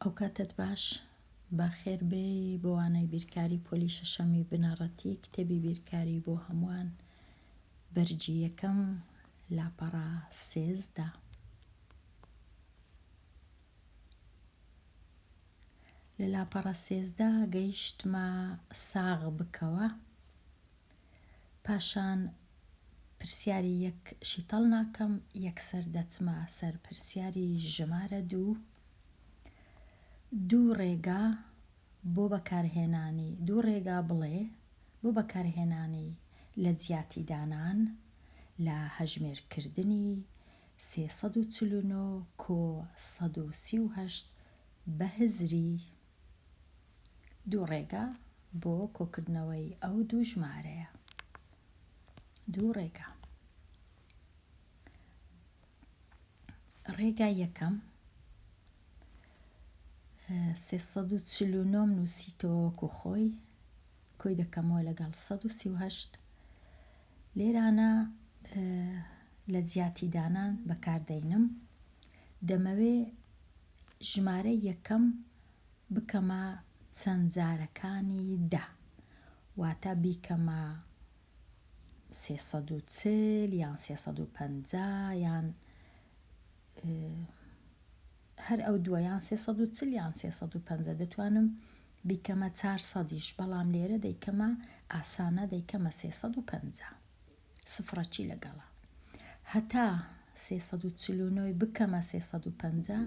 ئەوکاتەت باش بەخێر بێی بۆ وانەی بیرکاری پۆلی شەشەمی بنەڕەتی کتێبی بیرکاری بۆ هەمووان بەرگی یەکەم لاپەڕە سێزدە. لە لاپەڕە سێزدە گەیشتمە ساغ بکەوە. پاشان پرسیاری یەک شیتەڵ ناکەم یەکسەر دەچمە سەر پرسیاری ژمارە دوو دوو ڕێگا بۆ بەکارهێنانی دوو ڕێگا بڵێ بۆ بەکارهێنانی لە جیاتی دانان لە هەژمێر کردنی سێ سەد و چل و نۆ کۆ سەد و سی و هەشت بە هزری دوو ڕێگا بۆ کۆکردنەوەی ئەو دوو ژمارەیە دوو ڕێگا ڕێگا یەکەم 349 نووسیتەوەکو خۆی کۆی دەکەمەوە لەگەڵ 1970 لێرانە لە جیاتی دانان بەکاردەینم دەمەوێ ژمارەی یەکەم بکەمە چەند جارەکانی دە واتە بیکەمە سێ سەد و چل یان سێ سەد و پەنجا یان هەر ئەو دووە یان سێ سەد و چل یان سێ سەد و پەنجا دەتوانم بیکەمە چار سەدیش بەڵام لێرە دەیکەمە ئاسانە دەیکەمە سێ سەد و پەنجا سفڕەچی لەگەڵە هەتا سێ سەد و چل و نۆ ی بکەمە سێ سەد و پەنجا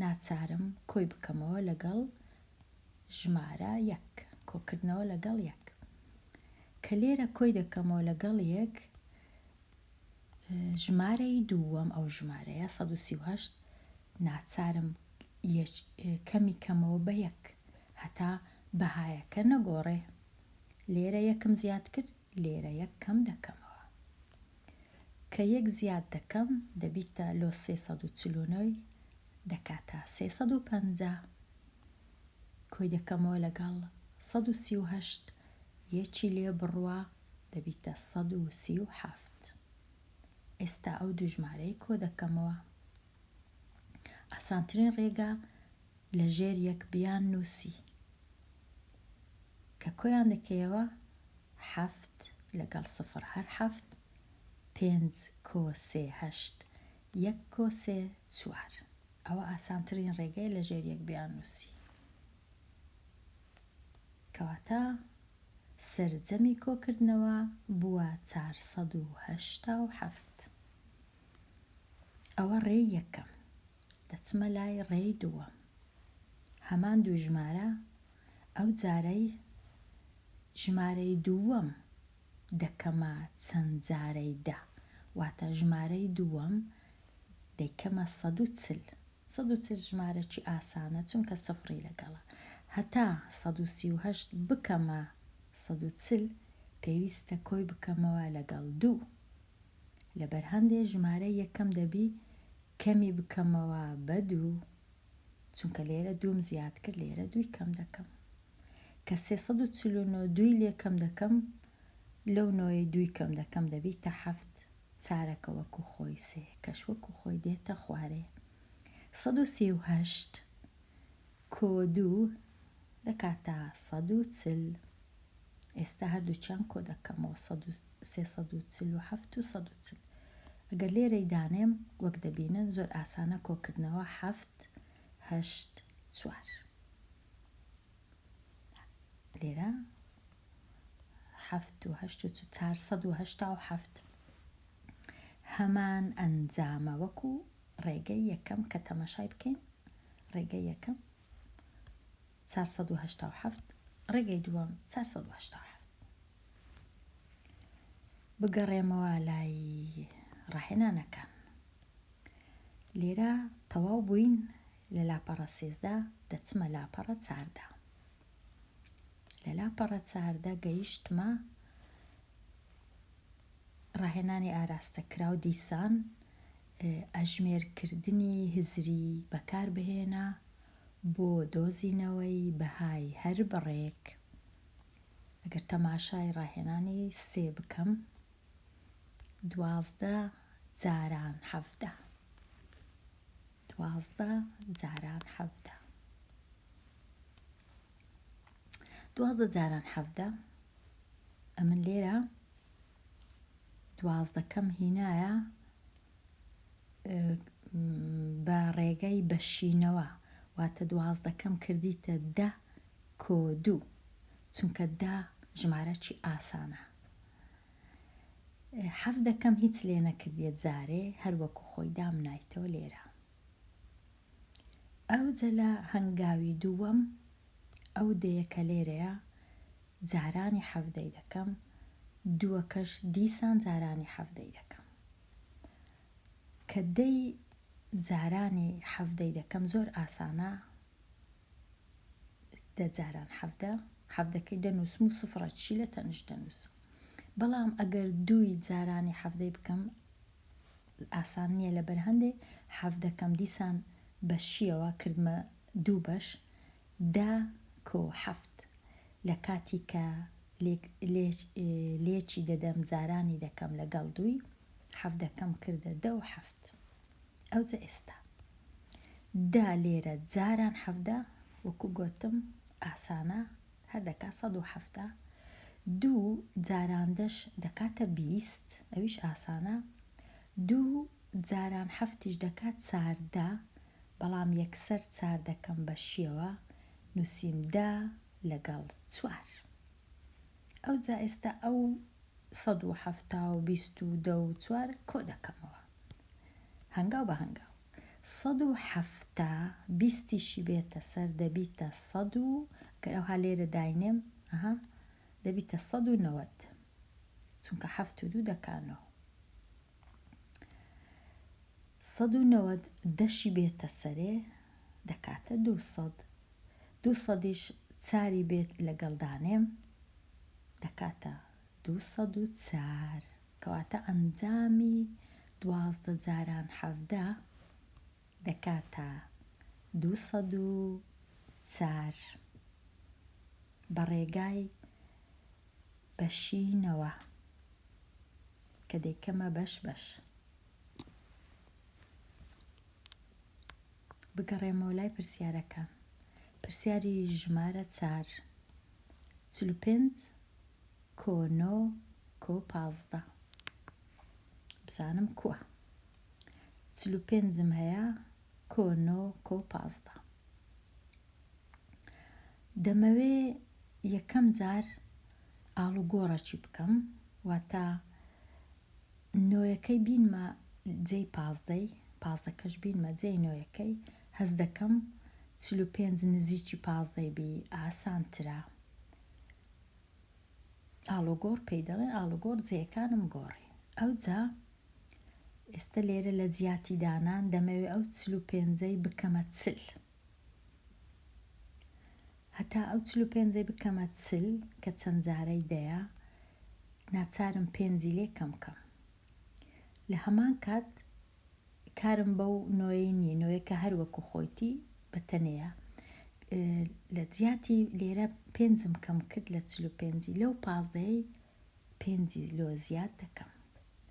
ناچارم کۆی بکەمەوە لەگەڵ ژمارە یەک کۆکردنەوە لەگەڵ یەک کە لێرە کۆی دەکەمەوە لەگەڵ یەک ژمارەی دووەم ئەو ژمارەیە 1970 ناچارم کەمی کەمەوە بە یەک هەتا بەهایەکە نەگۆڕێ لێرە یەکم زیاد کرد لێرە یەک کەم دەکەمەوە. کە یەک زیاد دەکەم دەبیتە لۆ سێ سەد و چل و نۆ ی دەکاتە سێ سەد و پەنجا. کۆی دەکەمەوە لەگەڵ سەد و سی و هەشت، یەکی لێ بڕوا دەبیتە سەد و سی و حەفت. ئێستا ئەو دوو ژمارەی کۆ دەکەمەوە. ئاسانترین ڕێگا لە ژێر یەک بیان نووسی کە کۆیان دەکەیەوە حەفت لەگەڵ سفڕ هەر حەفت پێنج کۆ سێ هەشت یەک کۆ سێ چوار ئەوە ئاسانترین ڕێگەیە لە ژێر یەک بیان نووسی کەواتە سەرجەمی کۆکردنەوە بووە چار سەد و هەشتا و حەفت ئەوە ڕێی یەکەم دەچمە لای ڕێی دووەم هەمان دوو ژمارە ئەو جارەی ژمارەی دووەم دەکەمە چەند جارەی دە واتە ژمارەی دووەم دەیکەمە سەد و چل سەد و چل ژمارەکی ئاسانە چونکە سفڕی لەگەڵە هەتا سەد و سی و هەشت بکەمە سەد و چل پێویستە کۆی بکەمەوە لەگەڵ دوو لەبەر هەندێ ژمارە یەکەم دەبی کەمی بکەمەوە بە دوو چونکە لێرە دووم زیاد کرد لێرە دووی کەم دەکەم کە سێ سەد و چل و نۆ دووی لێ کەم دەکەم لەو نۆیەی دووی کەم دەکەم دەبیتە حەفت چارەکە وەکو خۆی سێ کەش وەکو خۆی دێتە خوارێ سەد و سی و هەشت کۆ دوو دەکاتە سەد و چل ئێستا هەردووکیان کۆ دەکەمەوە سەد و سێ سەد و چل و حەفت و سەد و چل ئەگەر لێرەی دانێم وەک دەبینن زۆر ئاسانە کۆکردنەوە حەفت هەشت چوار لێرە حەفت و هەشت و چار سەد و هەشتا و حەفت هەمان ئەنجامە وەکو ڕێگەی یەکەم کە تەمەشای بکەین ڕێگەی یەکەم چوار سەد و هەشتا و حەفت ڕێگەی دووەم چوار سەد و هەشتا و حەفت بگەڕێمەوە لای ڕاهێنانەکان لێرە تەواو بووین لە لاپەڕە سێزدە دەچمە لاپەڕە چاردە لە لاپەڕە چاردە گەیشتمە ڕاهێنانی ئاراستە کراو دیسان ئەژمێرکردنی هزری بەکار بهێنا بۆ دۆزینەوەی بەهای هەر بڕێک ئەگەر تەماشای ڕاهێنانی سێ بکەم دوازدە جاران حەڤدە دوازدە جاران حەڤدە دوازدە جاران حەڤدە ئەمن لێرە دوازدەکەم هینایە بە ڕێگای بەشینەوە واتە دوازدەکەم کردیتە دە کۆ دوو چونکە دا ژمارەکی ئاسانە حەف دەکەم هیچ لێ نەکردیە جارێ هەروەکو خۆی دامنایتەوە لێرە ئەوجە لە هەنگاوی دووەم ئەو دەیە کە لێرەیە جارانی حەڤدەی دەکەم دووەکەش دیسان جارانی حەڤدەی دەکەم کە دەی جارانی حەڤدەی دەکەم زۆر ئاسانە دە جاران حەڤدە حەڤدەکەی دەنووسم و سفڕە چی لە تەنش دەنووسم بەڵام ئەگەر دووی جارانی حەڤدەی بکەم ئاسان نیە لەبەر هەندێ حەف دەکەم دیسان بە شیەوە کردمە دوو بەش دە کۆ حەفت لە کاتی کە لێک لێچ لێچی دەدەم جارانی دەکەم لەگەڵ دووی حەف دەکەم کردە دە و حەفت ئەوجە ئێستا دە لێرە جاران حەفدە وەکو گۆتم ئاسانە هەر دەکا سەد و حەفتا. دوو جاران دەش دەکاتە بیست، ئەویش ئاسانە. دوو جاران حەفتیش دەکا چاردە، بەڵام یەکسەر چاردەکەم بە شیەوە نووسیم دە لەگەڵ چوار. ئەوجا ئێستا ئەو سەد و حەفتا و بیست و دە و چوار کۆ دەکەمەوە هەنگاو بە هەنگاو. سەد و حەفتا بیستیشی بێتە سەر دەبیتە سەد و گەر ئەوها لێرە داینێم ئەها دەبیتە سەد و نەوەد چونکە حەفت و دوو دەکا نۆ سەد و نەوەد دەشی بێتە سەرێ دەکاتە دوو سەد دوو سەدیش چاری بێت لەگەڵ دانێم دەکاتە دوو سەد و چار کەواتە ئەنجامی دوازدە جاران حەڤدە دەکاتە دوو سەد و چار بە ڕێگای بەشینەوە کە دەیکەمە بەش بەش. بگەڕێمەوە لای پرسیارەکان. پرسیاری ژمارە چار چل و پێنج کۆ نۆ کۆ پازدە بزانم کوە چل و پێنجم هەیە کۆ نۆ کۆ پازدە دەمەوێ یەکەم جار ئاڵوگۆڕەکی بکەم واتە نۆیەکەی بینمە جێی پازدەی پازەکەش بینمە جێی نۆیەکەی هەز دەکەم چل و پێنج نزیکی پازدەی بی ئاسانترە ئاڵوگۆڕ پێی دەڵێن، ئاڵوگۆڕ جێیەکانم گۆڕی. ئەوجا ئێستە لێرە لە جیاتی دانان دەمەوێ ئەو چل و پێنجەی بکەمە چل. هەتا ئەو چل و پێنجەی بکەمە چل کە چەند جارەی دەیە، ناچارم پێنجی لێ کەم کەم. لە هەمان کات کارم بەو نۆیەی نییە نۆیە کە هەر وەکو خۆیتی بە تەنەیە لە جیاتی لێرە پێنجم کەم کرد لە چل و پێنجی لەو پازدەیەی پێنجی لۆ زیاد دەکەم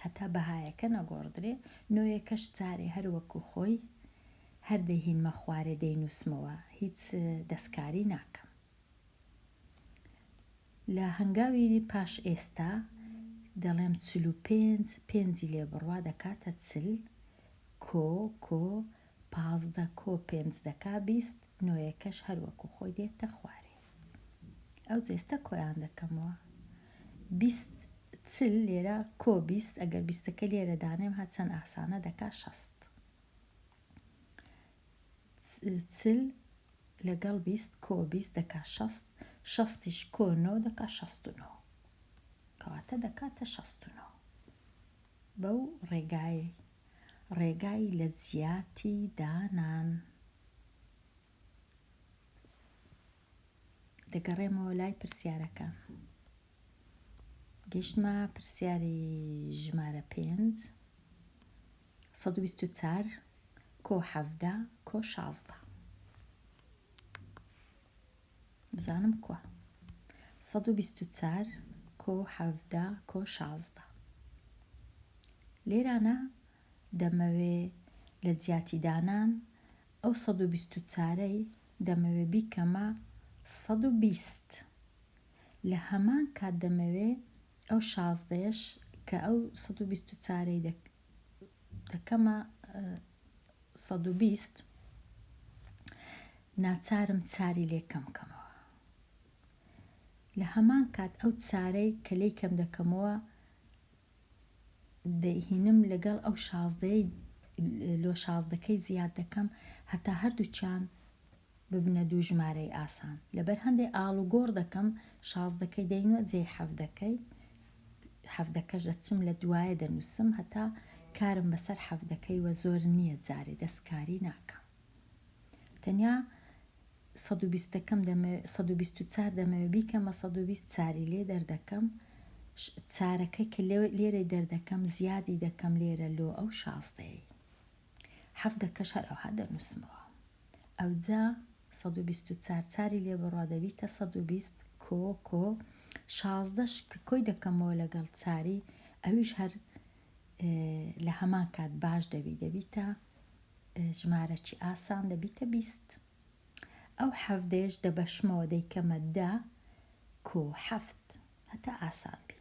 هەتا بەهایەکە نەگۆڕدرێ نۆیە کەش جارێ هەر وەکو خۆی هەر دەهینمە خوارێ دەینوسمەوە هیچ دەستکاری ناکەم لە هەنگاوی پاش ئێستا دەڵێم چل و پێنج، پێنجی لێ بڕوا دەکاتە چل، کۆ، کۆ، پازدە کۆ پێنج دەکا بیست، نۆیەکەش هەر وەکوو خۆی دێتە خوارێ. ئەو جێستە کۆیان دەکەمەوە. بیست، چل لێرە کۆ بیست، ئەگەر بیستەکە لێرە دانێم ها چەند ئاسانە دەکا شەست. چل لەگەڵ بیست کۆ بیست دەکا شەست شەستیش کۆ نۆ دەکا شەست و نۆ کەواتە دەکاتە شەست و نۆ بەو ڕێگایەی ڕێگای لە جیاتی دانان دەگەڕێمەوە لای پرسیارەکان گەشتمە پرسیاری ژمارە پێنج سەد و بیست و چار کۆ حەڤدە کۆ شازدە بزانم کوا سەد و بیست و چار کۆ حەڤدە کۆ شازدە لێرانە دەمەوێ لە جیاتی دانان ئەو سەد و بیست و چارەی دەمەوێ بیکەمە سەد و بیست لە هەمان کات دەمەوێ ئەو شازدەیەش کە ئەو سەد و بیست و چارەی دەکەمە سەد و بیست، ناچارم چاری لێ کەم بکەمەوە. لە هەمان کات ئەو چارەی کە لێی کەم دەکەمەوە، دەیهینم لەگەڵ ئەو شازدەیەی لۆ شازدەکەی زیاد دەکەم هەتا هەردووکیان ببنە دوو ژمارەی ئاسان لەبەر هەندێ ئاڵوگۆڕ دەکەم شازدەکەی دەینۆ جێی حەڤدەکەی حەڤدەکەش دەچم لە دوایە دەنووسم هەتا کارم بەسەر حەڤدەکەی وە زۆر نییە جارێ دەستکاری ناکەم تەنیا سەد و بیستەکەم دەمەوێ سەد و بیست و چار دەمەوێ بیکەمە سەد و بیست چاری لێ دەردەکەم چارەکەی کە لێرەی دەردەکەم زیادی دەکەم لێرە لۆ ئەو شازدەیەی حەڤدەکەش هەر ئەوها دەنووسمەوە. ئەوجا سەد و بیست و چار چاری لێ بڕە دەبیتە سەد و بیست کۆ کۆ شازدەش کە کۆی دەکەمەوە لەگەڵ چاری ئەویش هەر لە هەمان کات باش دەبی دەبیتە ژمارەکی ئاسان دەبیتە بیست ئەو حەڤدەیەش دەبەشمەوە دەیکەمە دە کۆ حەفت هەتا ئاسان بی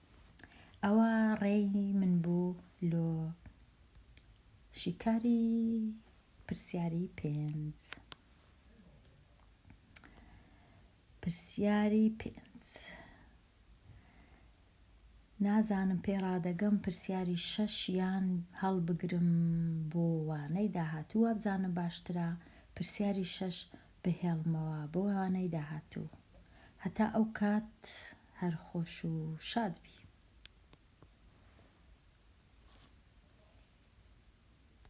ئەوە ڕێی من بوو لۆ شیکاری پرسیاری پێنج پرسیاری پێنج نازانم پێ ڕادەگەم پرسیاری شەش یان هەڵبگرم بۆ وانەی داهاتوو وابزانم باشترە پرسیاری شەش بهێڵمەوە بۆ وانەی داهاتوو هەتا ئەو کات هەر خۆش و شاد بی.